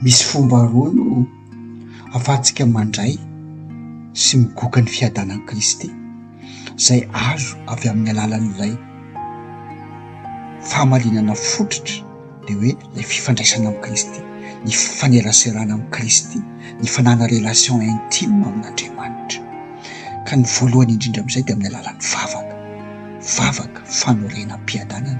Misy fomba roa no ahafahantsika mandray sy migoka ny fiadanan'i Kristy izay azo avy amin'ny alalan'ilay fahamarinana fototra. dia hoe ilay fifandraisana amin'i Kristy, ny fifaneraserana amin'i Kristy, ny fananana relation intime amin'Andriamanitra. Ka ny voalohany indrindra amin'izay dia amin'ny alalan'ny vavaka, vavaka fanorenam-piadanana,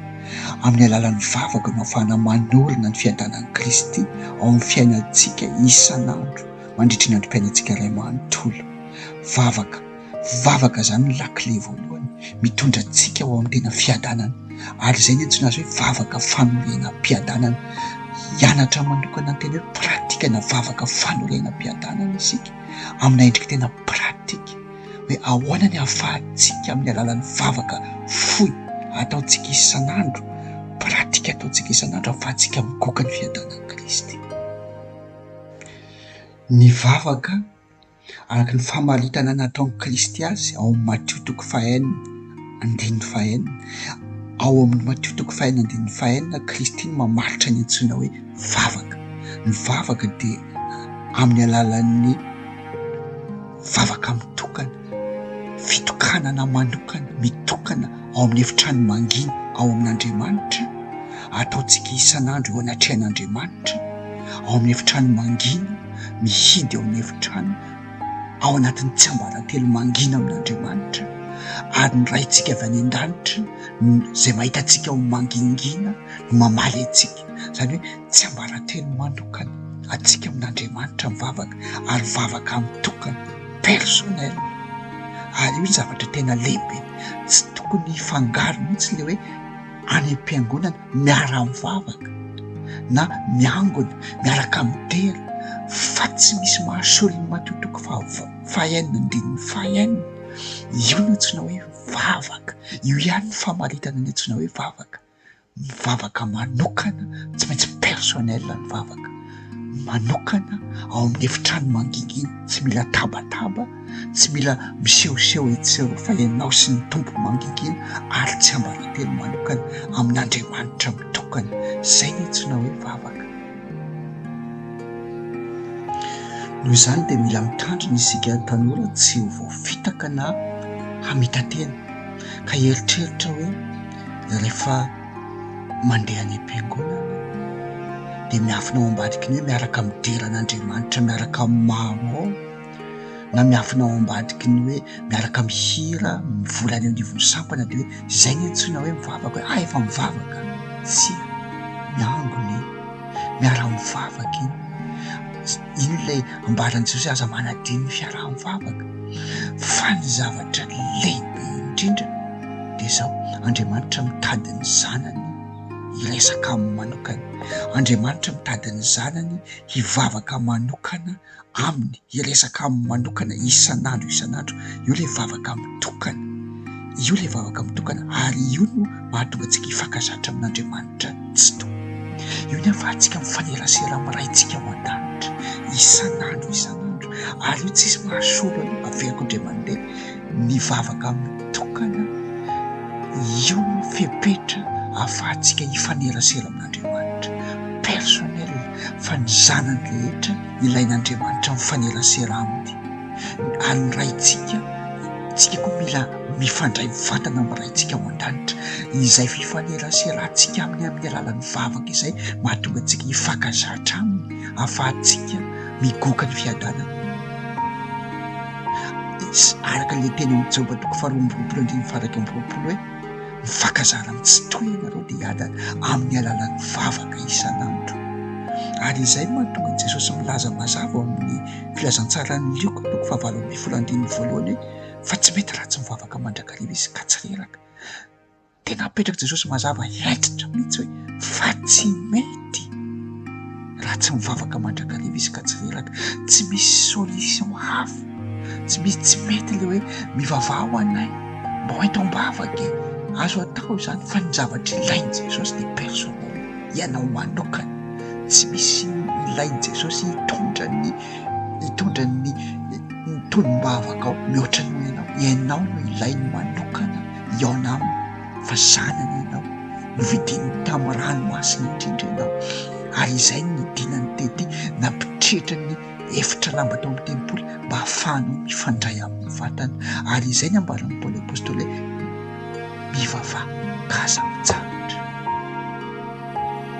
amin'ny alalan'ny vavaka no ahafahana manorina ny fiadanan'i Kristy ao amin'ny fiainantsika isan'andro mandritry ny androm-piainantsika iray manontolo, vavaka. Vavaka izany no lakile voalohany mitondra antsika ho amin'ny tena fiadanana ary izay ny antsoina azy hoe vavaka fanorenam-piadanana. Hianatra manokana ny tena hoe pratika na vavaka fanorenam-piadanana isika amina endrika tena pratika hoe ahoana ny ahafahantsika amin'ny alalan'ny vavaka fohy ataontsika isan'andro, pratika ataontsika isan'andro ahafahantsika migoka ny fiadanan'i Kristy. Ny vavaka. araka ny famaritana nataon'i Kristy azy ao amin'ny Matio toko fahenina andininy fahenina. Ao amin'ny Matio toko fahenina andininy fahenina, Kristy no mamaritra ny antsoina hoe vavaka. Ny vavaka dia amin'ny alalan'ny vavaka mitokana, fitokanana manokana, mitokana. ao amin'ny efitrano mangina ao amin'Andriamanitra, ataontsika isan'andro eo anatrehan'Andriamanitra, ao amin'ny efitrano mangina, mihidy ao amin'ny efitrano, ao anatin'ny tsiambaratelo mangina amin'Andriamanitra, ary ny Raintsika avy any an-danitra izay mahita antsika ho mangingina no mamaly antsika, izany hoe tsiambaratelo manokana antsika amin'Andriamanitra mivavaka ary vavaka mitokana personnel, ary io ny zavatra tena lehibe. tsy tokony hifangaro mihitsy ilay hoe any am-piangonana miara-mivavaka na miangona miaraka midera fa tsy misy maha soa ny matoa toko fahaenina andininy fahaenina io no antsoina hoe vavaka io ihany ny famaritana ny antsoina hoe vavaka mivavaka manokana, tsy maintsy personnel ny vavaka, manokana ao amin'ny efitrano mangingina, tsy mila tabataba, tsy mila misehoseho etsy sy eroa fa ianao sy ny Tompo mangingina ary tsiambaratelo manokana amin'Andriamanitra mitokana, izay no antsoina hoe vavaka. Noho izany dia mila mitandrina isika tanora tsy ho voafitaka na hamita-tena ka hieritreritra hoe rehefa mandeha any am-piangonana dia miafina ao ambadiky ny hoe miaraka midera an'Andriamanitra miaraka amin'ny maro ao na miafina ao ambadiky ny hoe miaraka mihira mivory any anivon'ny sampana dia hoe izay no antsoina hoe mivavaka hoe ah efa mivavaka tsia ny angony miara-mivavaka iny Inona ilay ambaran'i Jesoa, aza manadino ny fiaraha-mivavaka. Fa ny zavatra lehibe indrindra dia izao, Andriamanitra mitady ny zanany hiresaka aminy manokana, Andriamanitra mitady ny zanany hivavaka manokana aminy, hiresaka aminy manokana isan'andro isan'andro, io ilay vavaka mitokana. Io ilay vavaka mitokana ary io no mahatonga antsika hifankazatra amin'Andriamanitra tsy tompo. Io ny ahafahantsika mifanerasera amin'ny Raintsika ao an-danitra isan'andro isan'andro ary io tsisy mahasolo an'io. Averiko indray mandeha ny vavaka mitokana io no fepetra ahafahantsika hifanerasera amin'Andriamanitra personnel fa ny zanany rehetra ilain'Andriamanitra mifanerasera aminy. an'ny Raintsika, tsika koa mila mifandray mivantana amin'ny Raintsika ao an-danitra. Izay fifaneraserantsika aminy amin'ny alalan'ny vavaka izay mahatonga antsika hifankazatra aminy ahafahantsika migoka ny fiadanana. Araka ilay teny amin'ny Joba toko faharoa amby roapolo andininy fahairaika amby roapolo hoe mifankazara amin'ny tsy toy ianareo dia hiadana amin'ny alalan'ny vavaka isan'andro. Ary izay no mahatonga an'i Jesosy milaza mazava ao amin'ny Filazantsaran'i Lioka toko fahavalo ambin'ny folo andininy voalohany hoe fa tsy mety raha tsy mivavaka mandrakariva izy ka tsy reraka. Tena apetrak'i Jesosy mazava hentitra mihitsy hoe fa tsy mety raha tsy mivavaka mandrakariva izy ka tsy reraka. Tsy misy solution hafa, tsy misy tsy mety le hoe mivavaha ho anay mba ho ento am-bavaka e, azo atao izany fa ny zavatra ilain'i Jesosy dia personnel. Ianao manokana, tsy misy inona ilain'i Jesosy hitondra ny hitondra ny ny tonom-bavakao mihoatra noho ianao. Ianao no ilainy manokana hihaona aminy fa zanany ianao. Novidiny tamin'ny ranomasina indrindra ianao ary izay no nidinany tety nampitriatra ny efitra lamba tao amin'ny tempoly mba hahafahanao mifandray amin'ny vatana ary izay ny ambaran'i Paoly Apôstôly hoe mivavaha ka aza mitsahatra.